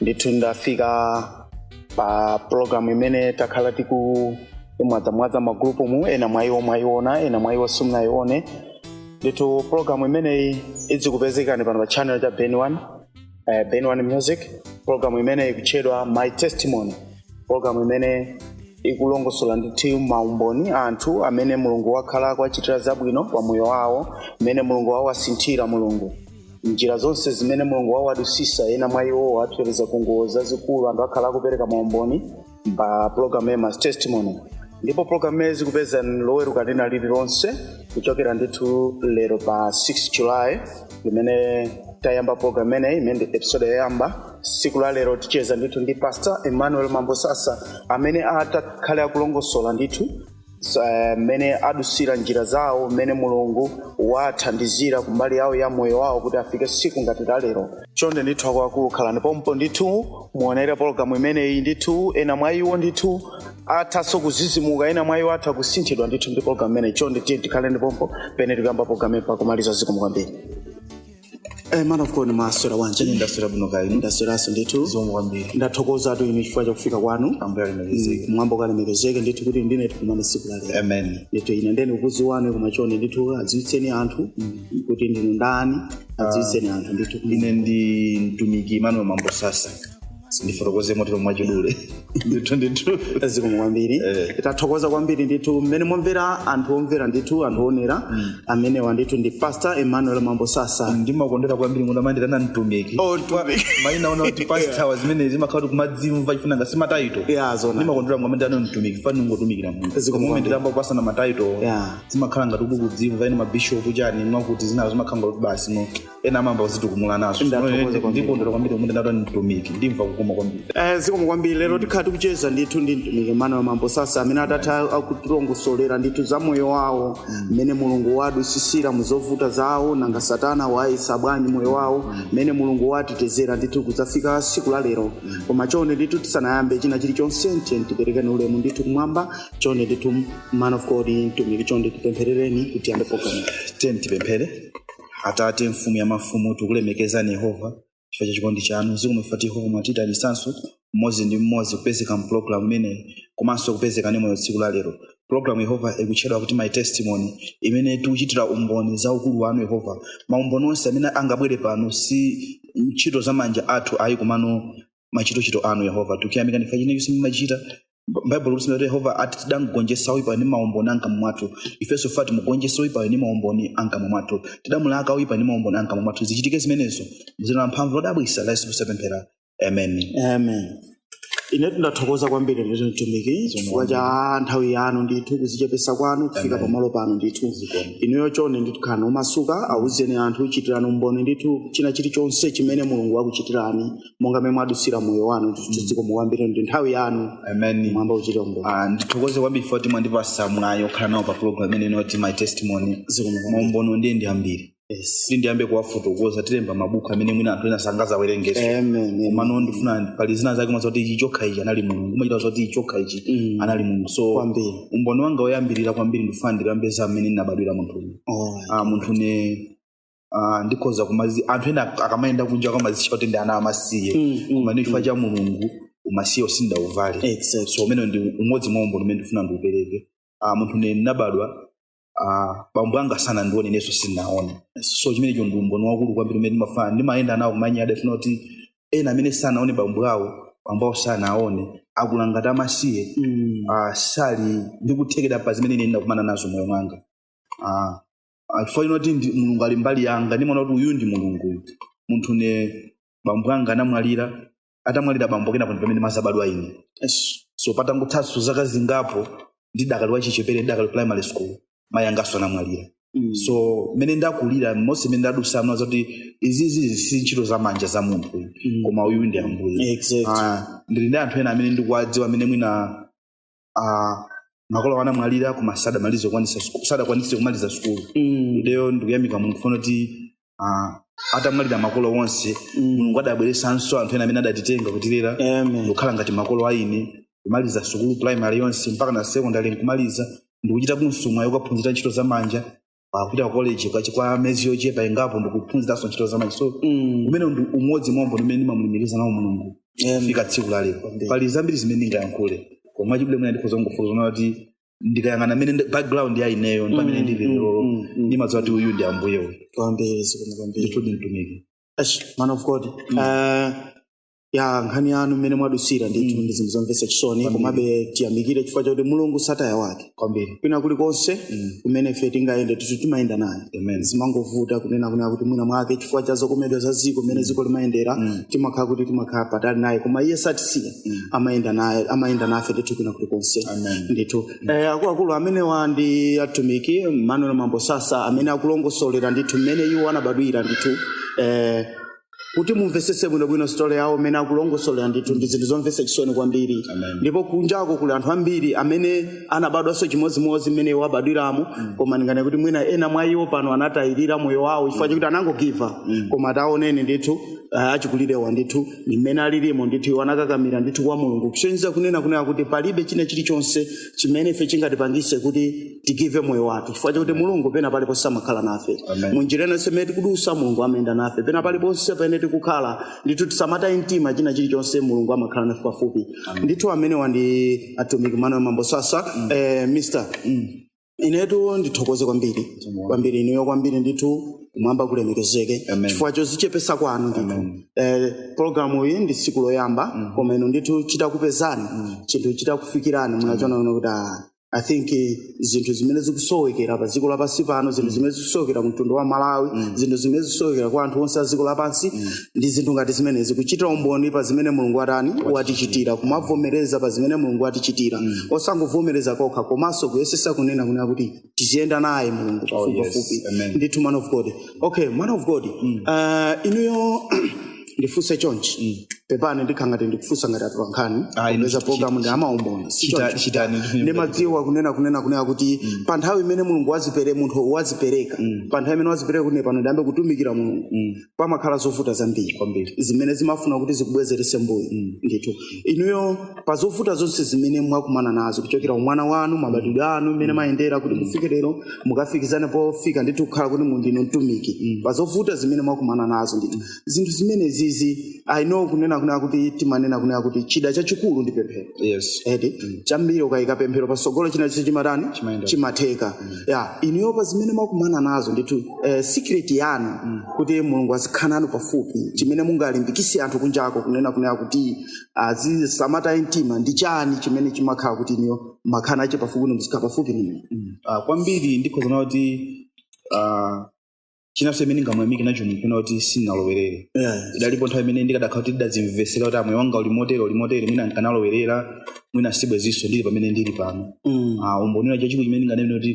ndithu ndafika pa programu imene takhala tikumwadzamwadza m'magulupumu ena mwa iwo mwayiona ena mwa iwo simunayione ndithu programu imeneyi idzikupezekani pano pa channel cha ben one eh, ben one music programu imeneyi ikutchedwa my testimony programu imene ikulongosola ndithu maumboni a anthu amene mulungu wakhala akuwachitira zabwino pa moyo wawo mmene mulungu wawasinthira mulungu njira zonse zimene mulungu wawadusisa ena mwa iwo awateteza ku ngozi zazikulu anthu akhala akupereka maumboni pa pulogalamu ya my testimony ndipo pulogalamu izikupezani loweruka lina lililonse kuchokera ndithu lero pa 6 july limene tayamba pulogalamu imeneyi imene ndi episode yoyamba siku la lero ticheza ndithu ndi pastor emmanuel mambosasa amene atakhale akulongosola ndithu eh, mmene adusira njira zawo mmene mulungu wathandizira kumbali yawo ya moyo wawo kuti afike siku ngati la lero chonde ndithu akuluakulu khalani pompo ndithu muonere pologalamu imeneyi ndithu ena mwa iwo ndithu athanso kuzizimuka ena mwa iwo atha kusinthidwa ndithu ndi pologalamu imeneyi chonde tiyeni tikhaleni pompo pamene tikuyamba pologalamu mpaka kumaliza zikomo kwambiri Eh, man of God mwaswera bwanji ndaswera bwino kaya ndasweraso ndithu zikomo kwambiri ndathokozatu inu chifukwa chakufika kwanu ambuye alemekezeke kumwamba kulemekezeke ndithu kuti ndine tikumane siku lalero amen ndithu ine ndiye ndikukuziwani koma chonde ndithu adziwitseni anthu kuti ndinu ndani adziwitseni anthu ndithu ine ndi mtumiki emmanuel mambosasa ndifotokoze motero mwachidule ndithu ndithu zikomo kwambiri Eh. tathokoza kwambiri ndithu mmene mwamvera anthu omvera ndithu anthu oonera amenewa ndithu ndi pastor emmanuel mambosasa ndimakondera kwambiri munthu akamanditana mtumiki Oh, mtumiki. maina ena kuti pastawa zimenezo zimakhala kuti kumadzimva chifukwa nkhani si mataito Yeah, zona. ndimakondera akamanditana mtumiki chifukwa ukungotumikira mulungu Zikomo kwambiri. tikayamba kupasana mataito Yeah. zimakhala ngati ukudzimva ena mabishopu chani mwakuti zinazo zimakhala ngati basi no ena amayamba kuzitukumula nazo Ndathokoza Chimene kwambiri. ndikondwera kwambiri akamanditana mtumiki ndimva kukoma kwambiri Eh, zikomo kwambiri lero tikhala tikucheza ndithu ndi mtumiki emmanuel mambosasa amene atakhale akutilongosolera ndithu za moyo wawo mmene mulungu wadusisira mu zovuta zawo nanga satana wayesa bwanji moyo wawo mmene mulungu watetezera ndithu kudzafika siku la lero koma chonde ndithu tisanayambe china chilichonse tiyeni tiperekeni ulemu ndithu kumwamba chonde ndithu man of god mtumiki chonde tipempherereni kuti tiyambe programu tiyeni tipemphere atate mfumu ya mafumu tikulemekezani yehova chifukwa cha chikondi chanu zikomo chifukwa choti yehova mwatitalikisanso mmodzi ndi mmodzi kupezeka mpulogalamu imeneyi komanso kupezeka ndi moyo tsiku la lero pulogalamu yehova ikutchedwa kuti my testimony imene tikuchitira umboni za ukulu wanu yehova maumboni onse amene angabwere pano si ntchito za manja athu ayi komano machitochito anu yehova tikuyamika ndi chifukwa china chonse mumachita baibulo likunena kuti yehova ati tidamgonjetsa oyipayo ndi maumboni ankamwa mwathu ifenso ati timugonjetsa oyipayo ndi maumboni ankamwa mwathu tidamulaka oyipa ndi maumboni ankamwa mwathu zichitike zimenezo muzina la mphamvu lodabwitsa la yesu kristu tapemphera amen amen ine ndathokoza kwambiri ndithu mtumiki chifukwa cha nthawi yanu ndithu kuzichepesa kwanu kufika pamalo pano ndithu inuyo chonde ndithu khalani omasuka awuzeni anthu chitirani umboni ndithu china chilichonse chimene mulungu akuchitirani monga mmene mwadutsira moyo wanu zikomo kwambiri ndi nthawi yanu amen mwamba uchite umboni Ah, ndithokoze kwambiri poti mwandipasa mwayi okhala nawo pa program imene ino ya my testimony Zikomo. maumboni ndiye ndi ambiri yes yoti ndiyambe kuwafotokoza tilemba mabuku amene mwina anthu ena sangazawerengeso amen komano ndifuna pali zina zake umadziwa kuti ichi chokha ichi anali mulungu umachita kudziwa kuti ichi chokha ichi Mm. anali mulungu so kwambiri umboni wanga woyambirira kwambiri ndifuna ndikambe za mmene ndinabadwira munthu uyu oh. ah, munthu ne ah, ndikhoza kumazi anthu ena akamayenda kunja amazitcha kuti ndi ana amasiye Mm, mm, koma ndi chifukwa cha mulungu umasiye usindauvale Exactly. so umene ndi umodzi mwa umboni umene ndifuna ndiupereke Ah, munthu ne ndinabadwa ah, bambo anga sanandione inenso sindinawaone so chimenecho ndi umboni waukulu kwambiri umene ndimafana ndimayenda nawo kumanyada chifukwa kuti ena amene sanawaone bambo awo bambo awo sanawaone akula ngati amasiye Mm. ah, sali ndikuthekera pa zimene ine ndinakumana nazo moyo mwanga ah, chifukwa chonena kuti ndi- mulungu ali mbali yanga ndimaona kuti uyu ndi mulungu munthu ne bambo anga anamwalira atamwalira bambo kenako ndi pamene ndimazabadwa ine yes. so patangothaso zaka zingapo ndidakali wachichepere ndidakali primary school mayi angaso anamwalira mm. so mmene ndakulira monse mmene ndadusa ndimadziwa kuti izizi si ntchito za manja za munthu mm. koma uyu ndi ambuye exactly. Ah, ndili ndi anthu ena amene ndikuwadziwa amene mwina uh, makolo awo anamwalira koma sadamalize kukwanisa ku- sadakwanise kumaliza sukulu Mm. ineyo ndikuyamika mulungu kunena kuti uh, atamwalira makolo onse mulungu adabweresanso anthu ena amene adatitenga kutilera Amen. ndikukhala ngati makolo aine kumaliza sukulu primary yonse mpaka na secondary nkumaliza ndikuchita konso mwayi wokaphunzira ntchito za manja kupita ku college kwa- kwa miyezi yochepa ingapo ndikuphunziranso ntchito za manja so umene ndi umodzi mwa maumboni umene ndimamulemekeza nawo mulungu kufika tsiku la lero pali zambiri zimene ndingayankhule koma chidule mwina ndikhoza kungofotokoza zoti ndikayang'ana mene ndi- background ya ineyo ndi pamene ndili lero ndimadziwa kuti uyu ndi ambuye uyu kwambiri zikomo kwambiri ndithudi mtumiki Ash, man of god uh, ya nkhani yanu mmene mwadutsira ndithu Mm. ndi zinthu zomvetsa chisoni Kwambiri. komabe tiyamikire chifukwa chakuti mulungu sataya wake kwambiri kwina kulikonse Mm. kumene ife tingayende ndithu timayenda naye amen zimangovuta kunena kunena kuti mwina mwake chifukwa cha zokomedwa za ziko mmene ziko limayendera Mm. timakhala kuti timakhala patali naye koma iye satisiya Mm. amayenda naye amayenda nafe ndithu kwina kulikonse amen ndithu eh, akuluakulu amenewa ndi atumiki manuel mambosasa amene akulongosolera ndithu mmene iwo anabadwira ndithu eh, kuti mumvetsetse bwinobwino story yawo mmene akulongosolera ndithu ndi zinthu zomvetsa chisoni kwambiri Amen. ndipo kunjako kuli anthu ambiri amene anabadwanso chimodzimodzi mmene iwo abadwiramo koma ndinganene kuti mwina ena mwa iwo pano anatayirira moyo wawo chifukwa chakuti anangogiva koma taoneni ndithu ah, achikulirewa ndithu ndi mmene alilimo ndithu iwo anakakamira ndithu kwa mulungu kusonyeza kunena kunena kuti palibe china chilichonse chimene ife chingatipangise kuti tigive moyo wathu chifukwa chakuti mulungu pena paliponse amakhala nafe Amen. munjira ina yonse imene tikudusa mulungu amayenda nafe pena paliponse pamene tikukhala ndithu tisamataye mtima china chilichonse mulungu amakhala nafe pafupi ndithu amenewa ndi atumiki Manuel Mambo Sasa eh, mr inetu ndithokoze kwambiri kwambiri ineyo kwambiri ndithu kumwamba kulemekezeke Amen. chifukwa chozichepesa kwanu ndithu Amen. eh, programu iyi ndi tsiku loyamba koma inu ndithu chitakupezani chinthu chitakufikirani munachiona kuti ah, i think eh, zinthu zimene zikusowekera pa dziko lapansi pano zinthu zimene zikusowekera ku mtundu wa malawi zinthu zimene zikusowekera kwa anthu onse a dziko lapansi ndi zinthu ngati zimenezi kuchita umboni pa zimene mulungu watani watichitira kumavomereza pa zimene mulungu watichitira osangovomereza kokha komanso kuyesesa kunena kunena kuti tiziyenda naye mulungu pafupipafupi Amen. ndithu man of god okay man of god uh, inuyo ndifunse chonchi pepani ndikhala ngati ndikufunsa ngati atolankhani Ayi, popeza chi- programu ndi amaumboni si Chita- choncho. chitani ndimadziwa kunena kunena kunena kuti pa nthawi imene mulungu wazipere- munthu wazipereka pa nthawi imene wazipereka kuti pano ndiyambe kutumikira mulungu pamakhala zovuta zambiri Kwambiri. zimene zimafuna kuti zikubwezerese mbuyo ndithu inuyo pa zovuta zonse zimene mwakumana nazo kuchokera umwana wanu mabadwidwe anu mmene mwayendera kuti mufike lero mukafikizane pofika ndithu kukhala kuti mundinu mtumiki pa zovuta zimene mwakumana nazo ndithu zinthu zimenezizi i know kunena kunena kuti timanena kunena kuti chida chachikulu ndi pemphero yes eti chambiri ukayika pemphero pasogolo china chilichonse chimatani Chimayenda. chimatheka ya inuyo pa zimene mwakumana nazo ndithu eh, secret yanu kuti mulungu azikhala nanu pafupi chimene mungalimbikise anthu kunjako kunena kunena kuti azisamataye mtima ndi chani chimene chimakhala kuti inuyo makhala nacho pafupi ndi muzikhala pafupi ninu Ah, kwambiri ndikhoza kunena kuti ah, chinanso chimene ndingamuyamike nacho mulungu nkunena kuti sindinalowerere Yeah. idalipo nthawi imene ndikadakhala kuti ndidadzimvesera kuti moyo wanga uli motere uli motere mwina nkanalowerera mwina sibwezinso ndili pamene ndili pano Mm. Ah, umboni wina chachikulu chimene ndinganene kuti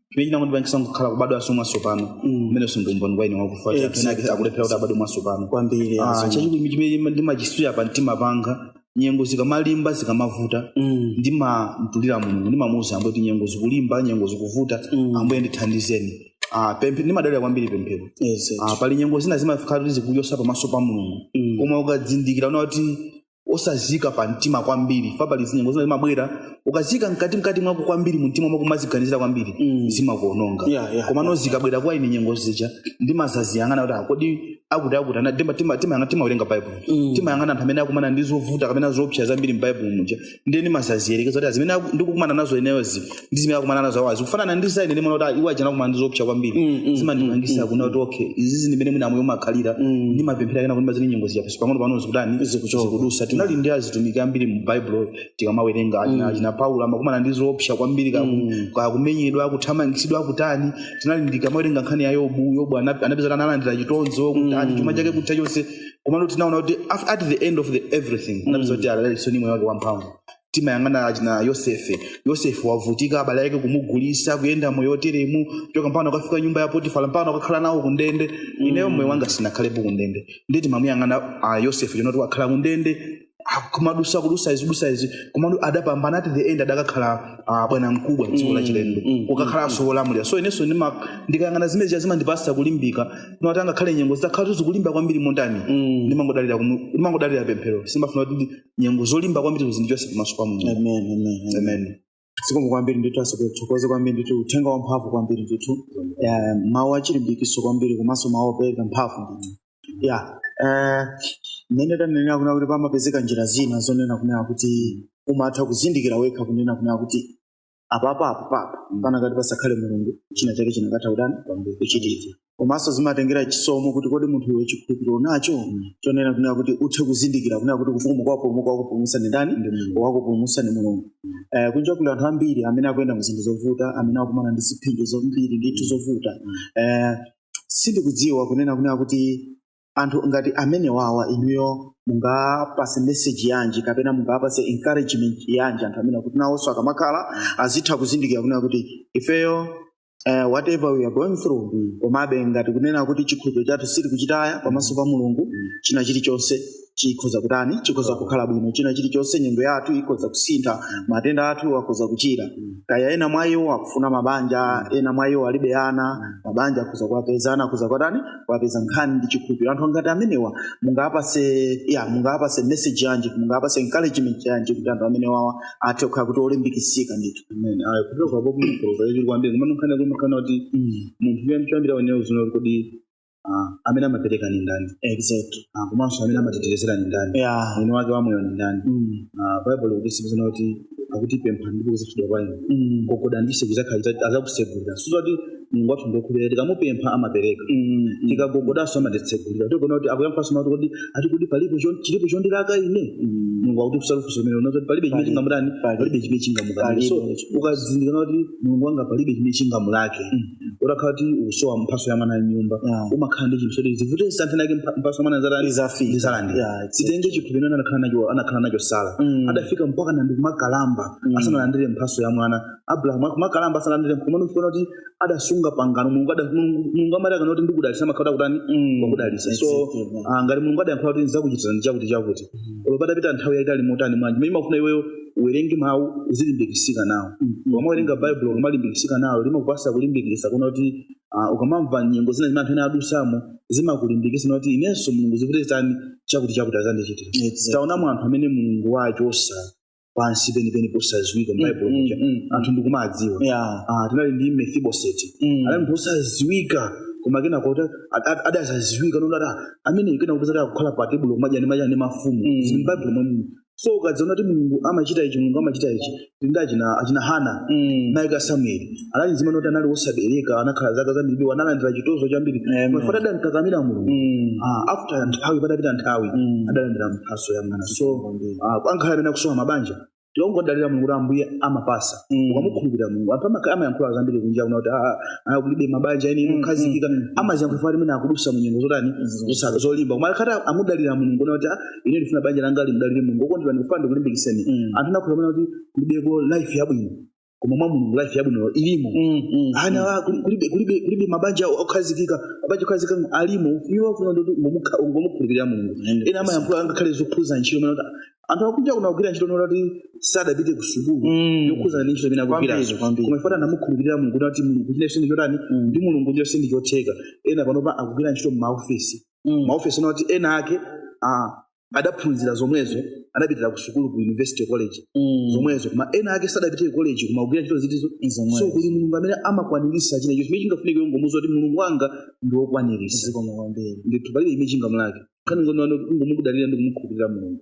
chimene chinangondipangisa kukhala kubadwaso mwatsopano Mm. umeneso ndi umboni kwa ine wakufa Exactly. ena akulephera kuti abadwe mwatsopano kwambiri Ah, azo. chachikulu chimene ndimachisunga pa mtima panga nyengo zikamalimba zikamavuta Mm. ndimamtulira mulungu ndimamuuza ambuye kuti nyengo zikulimba nyengo zikuvuta Mm. ambuye ndithandizeni Ah, pemphe- ndimadalira kwambiri pemphero Yes. Ah, pali nyengo zina zimafika kuti zikuopsa pamaso pa mulungu Mm. koma ukadzindikira umaona kuti osaziika pa mtima kwambiri fa pali nyengo zina zimabwera ukazika mkati mkati mwako kwambiri mumtima mwako kumaziganizira kwambiri Mm. zimakuononga Yeah, yeah. komano zikabwera kwa ine nyengo zija ndimadzaziyang'ana kuti ah, kodi akuti akuti ana tima- tima- timayang'ana timawerenga baibulo Mm. timayang'ana anthu amene akumana ndi zovuta kapena zoopsa zambiri m'baibulo muja ndiye ndimadzaziyerekeza kuti zimene aku- ndikukumana nazo ineyozi ndi zimene akumana nazo awazi kufanana ndi za ine ndimaona kuti ah, iwo ajana akumana ndi zoopsa kwambiri Mm, mm, zimandipangisa kuona kuti okay izizi ndimene mwina moyo umakhalira Mm. ndimapemphera kenako timaziona nyengo zija pang'ono pang'ono zikutani Zikuchoka. zikudutsa tinali ndi atumiki ambiri mu baibulo tikamawerenga achina, Mm. achina Paulo amakumana ndi zoopsa kwambiri kaku- Mm. kakumenyedwa kuthamangitsidwa kutani tinali ndikamawerenga nkhani ya Yobu Yobu ana- anapeza analandira chitonzo kutani Mm. chuma chake kutha chonse komano tinaona kuti af- at the end of the everything anapeza kuti analinso ndi moyo wake wamphamvu timayang'ana achina Yosefe Yosefe wavutika abale ake kumugulitsa kuyenda moyo oteremu kuchoka mpano akafika nyumba ya Potifala mpano akakhala nawo kundende ineyo moyo wanga sindinakhalepo kundende ndiye timamuyang'ana ah, Yosefe chonoti wakhala kundende kumadutsa kudutsa izi kudutsa izi komano adapambana at the end adakakhala ah, bwana mkulu wa dziko la chilendo kukakhalanso wolamulira so inenso ndima- ndikayang'ana zimene zija zimandipatsa kulimbika ndimati angakhale nyengo zitakhala kuti zikulimba kwambiri motani ndimangodalira kumu- ndimangodalira pemphero sindimafuna kuti ndi nyengo zolimba kwambiri zindichotse pamaso pa mulungu amen amen amen amen zikomo kwambiri ndithu atsogoleri tithokoze kwambiri ndithu uthenga wamphamvu kwambiri ndithu Eh, mawu achilimbikitso kwambiri komanso mawu opereka mphamvu ndithu ya eh, mmene tanenera kunena kuti pamapezeka njira zina zonena kunena kuti umatha kuzindikira wekha kunena kunena kuti apapa apapapa panakati pasakhale mulungu china chake chikanatha kutani kuchitika komanso zimatengera chisomo kuti kodi munthu iwe chikhulupiriro nacho chonena kunena kuti uthe kuzindikira kunena kuti kuti mukapulumuka wakupulumutsa ndi ndani wakupulumutsa ndi mulungu Eh, kunja kuli anthu ambiri amene akuyenda mu zinthu zovuta amene akumana ndi zipsinjo zambiri ndithu zovuta Eh, sindikudziwa kunena kunena kuti anthu ngati amenewawa inuyo mungawapatse message yanji kapena mungawapatse encouragement yanji anthu amene kuti nawonso akamakhala azitha kuzindikira kunena kuti ifeyo uh, whatever we are going through Mm. komabe ngati kunena kuti chikhulupiriro chathu sitili kuchitaya pamaso pa mulungu Mm. china chilichonse chikhoza kutani chikhoza kukhala bwino china chilichonse nyengo yathu ikhoza kusintha matenda athu akhoza kuchira Mm. kaya ena mwa iwo akufuna mabanja ena mwa iwo alibe ana mabanja akhoza kuwapeza ana akhoza kuwatani kuwapeza nkhani ndi chikhulupiriro anthu ngati amenewa mungawapatse ya mungawapatse message yanji mungawapatse encouragement yanji kuti anthu amenewawa athe kukhala kuti olimbikitsika ndithu Amen. Ayi, kutoka hapo kuna kutoka hiyo kwambia kama mkana kama mkana kuti munthu yeye mchambira wenyewe uzino kodi ah amene amapereka ni ndani exactly ah komanso amene amatitetezera ni ndani ya mwini wake wa moyo ni ndani mm. ah bible ikutitsimikizira kuti akuti pemphani ndipo kudzachitidwa kwa inu Mm. gogoda ndi chiseko chizakhala azakusegulira so zoti mulungu wathu ndi wokhulupirika tikamupempha amapereka Mm. tikagogodanso amatitsegulira tikuona kuti akuyankhanso mati kuti ati kuti palipo chon- chilipo chondilaka ine Mm. mulungu akutifunsa funso mene unati palibe chimene Palibe. chingamutani Palibe. palibe chimene chingamukanike so Palibe. ukazindikira kuti mulungu wanga palibe chimene chingamulake utakhala kuti ukusowa mphaso ya mwana nyumba Yeah. umakhala ndi chinthu choti zivute zitani nthawi inake mpha- mphaso ya mwana ndizatani Izafika. ndizalandira Yeah, it's- titenge chikhulupiriro chimene anakhala nacho anakhala nacho sara Mm. adafika mpakana ndikumakalamba Mm. asanalandire mphaso ya mwana abrahamu akumakalamba asanalandire koma ndikufuna kuti adasunga pangano mulungu ada- Mulungu- mulungu amati akanena kuti ndikudalisa amakhala wakutani Mm. wakudalisa so Exactly, yeah. ah, ngati mulungu adayankhula kuti ndizakuchitira chakuti chakuti olo patapita nthawi yaitali motani manje chimene umafuna iweyo uwerenge mawu uzilimbikitsika nawo ukamawerenga bible ukamalimbikitsika nawo limakupasa kulimbikitsa kunena kuti ah, ukamamva nyengo zina zimene anthu ena adusamo zimakulimbikitsa kuti inenso mulungu zivute zitani chakuti chakuti azandichitira Exactly. taonamo anthu amene mulungu wawachosa pansi penipeni posadziwika m'bible Mm, muja mm, mm. anthu ndikumawadziwa Yeah. Ah, tinali ndi mefiboseti Mm. anali munthu osadziwika koma kenako adazadziwika onena kuti amene kenako kupezeka akukhala pa tebulo kumadya ndi madya ndi mafumu Mm. zili m'bible momwemu so ukadziona kuti mulungu amachita ichi mulungu amachita ichi tili ndi achina achina hana Mm. mayi ake a samueli anali mzimayi onena kuti anali wosabereka anakhala zaka zambiri analandira chitonzo chambiri Amen. koma chifukwa adamkakamira mulungu Mm. Ah, after nthawi patapita nthawi Mm. adalandira mphaso ya mwana so ah, angakhale amene akusowa mabanja tikangodalira mulungu kuti ambuye amapasa Mm. ukamukhulupirira mulungu anthu amaka- amayankhula zambiri kunja kuno kuti "Ah, ah, kulibe mabanja eni Mm, okhazikika mm, mm. amaziyankhula fati amene akudusa munyengo zotani Zosaka. zolimba koma akakhala kuti amudalira mulungu kuti ine ndifuna banja langa limdalire mulungu okondedwa ndikufuna ndikulimbikiseni Mm. anthu anakuuzani kunena kuti kulibeko life yabwino koma mwa mulungu life yabwino ilimo Mm, mm, ana wa- kuli- kulibe kulibe kulibe mabanja okhazikika mabanja okhazikika alimo iwo afuna kuti kungomukhu- kungomukhulupirira mulungu Mm. ena amayankhula angakhale zokhuza ntchito kunena kuti anthu kunja kuno akugwira ntchito onena kuti sadapite ku sukulu Mm. yokhuzana ndi ntchito imene Kwambiri, akugwirazo kwambiri. koma chifukwa anamukhulupirira mulungu kuti mulungu china chinthu chotani Mm. ndi mulungu chilichonse ndi chotheka ena panopa akugwira ntchito m'maofesi mm. maofesi ena oti ena ake ah, adaphunzira zomwezo adapitira ku sukulu ku university college Mm. zomwezo koma ena ake sadapite ku college koma akugwira ntchito zitizo Zomwezo. so kuli mulungu amene amakwanirisa china chimene chingafunike kungomuuza kuti mulungu wanga ndi wokwanirisa zikomo kwambiri ndithu palibe chimene chingamulake nkhani ndi kungomudalira ndi kumukhulupirira mulungu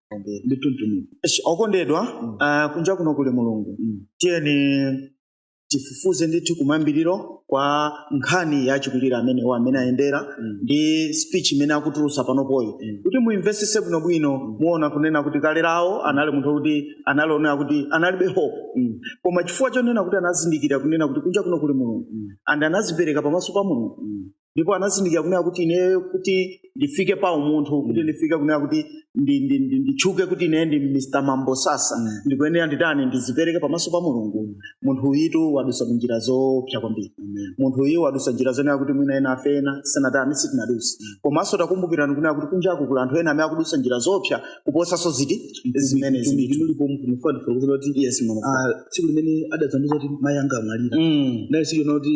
kwambiri ndithu mtumiki Esh, okondedwa ah, kunja kuno kuli mulungu tiyeni tifufuze ndithu kumayambiriro kwa nkhani ya achikulire amenewo amene ayendera Mm. ndi speech imene akutulusa panopoyi Mm. kuti muimvesese bwinobwino muona kunena kuti kale lawo anali munthu kuti anali onena kuti analibe hope Mm. koma chifukwa chonena kuti anazindikira kunena kuti kunja kuno kuli mulungu Mm. and anazipereka pamaso pa mulungu Mm. ndipo anazindikira kunena kuti ineyo kuti ndifike pa umunthu kuti ndifike kunena kuti ndi- ndi- ndi- nditchuke kuti ineyo ndi mr mambo sasa Mm. ndikuyenera nditani ndizipereke pamaso pa mulungu munthu uyutu wadusa njira zoopsa kwambiri munthu uyu wadusa njira zonena kuti mwina ena afe ena sanatani sitinadusa komanso takumbukirani kunena kuti kunjaku kuli anthu ena amene akudusa njira zoopsa kuposanso ziti zimene zilipo mulipo munthu mufati fotokozera kuti yes mama. ah, tsiku limene adadzandiuza kuti mayi anga amwalira Mm. naye sikionera kuti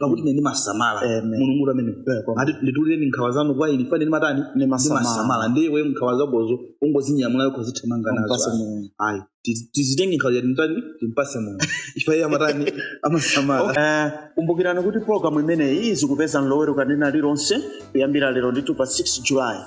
pakuti ine ndimasamala Amen. mulungu amene Eh, kwa- ati nditulireni nkhawa zanu kwa ine chifukwa ine ndimatani Ndimasamala. ndimasamala ndiye iwe nkhawa zakozo ungozinyamulayo kuzithamanga nazo Mpase ayi. Mulungu. ayi Tiz- tizitenge nkhawa yathu titani timpase mulungu chifukwa iye amatani amasamala Eh, kumbukirani kuti pologalamu imeneyi izikupezani loweruka lina lililonse kuyambira lero ndithu pa 6 julayi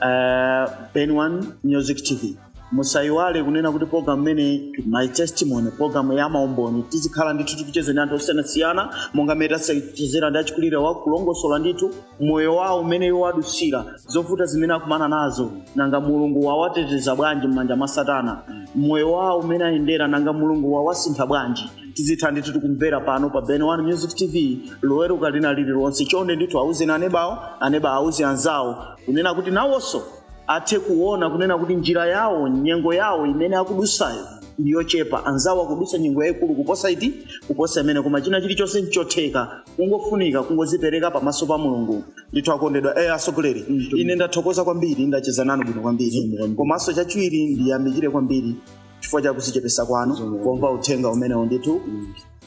uh, ben one music tv musayiwale kunena kuti program imene my testimony program ya maumboni tizikhala ndithu tikucheza ndi anthu osiyanasiyana monga mmene tachezera ndi achikulirewa kulongosola ndithu moyo wawo umene iwo adusira zovuta zimene akumana nazo nanga mulungu wawateteza bwanji m'manja mwa satana moyo wawo umene ayendera nanga mulungu wawasintha bwanji tizitha ndithu tikumvera pano pa ben one music tv loweruka lina lililonse chonde ndithu auzeni anebawo anebawo auze anzawo kunena kuti nawonso athe kuona kunena kuti njira yawo nyengo yawo imene akudusayo ndi yochepa anzawo akudusa nyengo yayikulu kuposa iti kuposa imene koma china chilichonse nchotheka kungofunika kungozipereka pamaso pa mulungu ndithu akondedwa eh, asogoleri ine ndathokoza kwambiri ndacheza nanu bwino kwambiri komanso chachiwiri ndiyamikire kwambiri chifukwa cha kuzichepesa kwanu pomva uthenga umenewu ndithu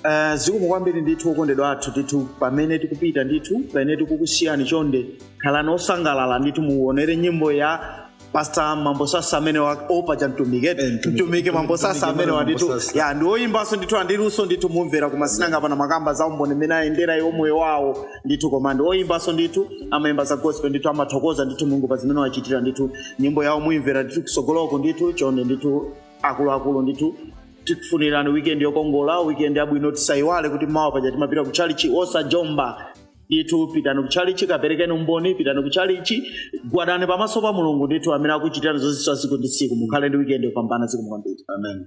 Uh, zikomo kwambiri ndithu okondedwa athu ndithu pamene tikupita ndithu pamene tikukusiyani chonde khalani osangalala ndithu muonere nyimbo ya pasta mambo sasa amene wa- or kapena mtumiki mtumiki mambo sasa amene wa ndithu ya ndi oyimbanso ndithu ali ndi luso ndithu mumvera koma si nanga pano amakamba za umboni mmene ayendera iwo moyo wawo ndithu koma ndi oyimbanso ndithu amayimba za gospel ndithu amathokoza ndithu mulungu pa zimene wawachitira ndithu nyimbo yawo muyimvera ndithu kusogoloko ndithu chonde ndithu akuluakulu ndithu tikufunirani weekend yokongola weekend yabwino tisayiwale kuti mawa paja timapita ku tchalitchi osajomba ndithu pitani ku tchalitchi kaperekeni umboni pitani ku tchalitchi gwadani pamaso pa mulungu ndithu amene akuchitirani zozizwa tsiku ndi tsiku mukhale ndi weekend yopambana zikomo kwambiri amen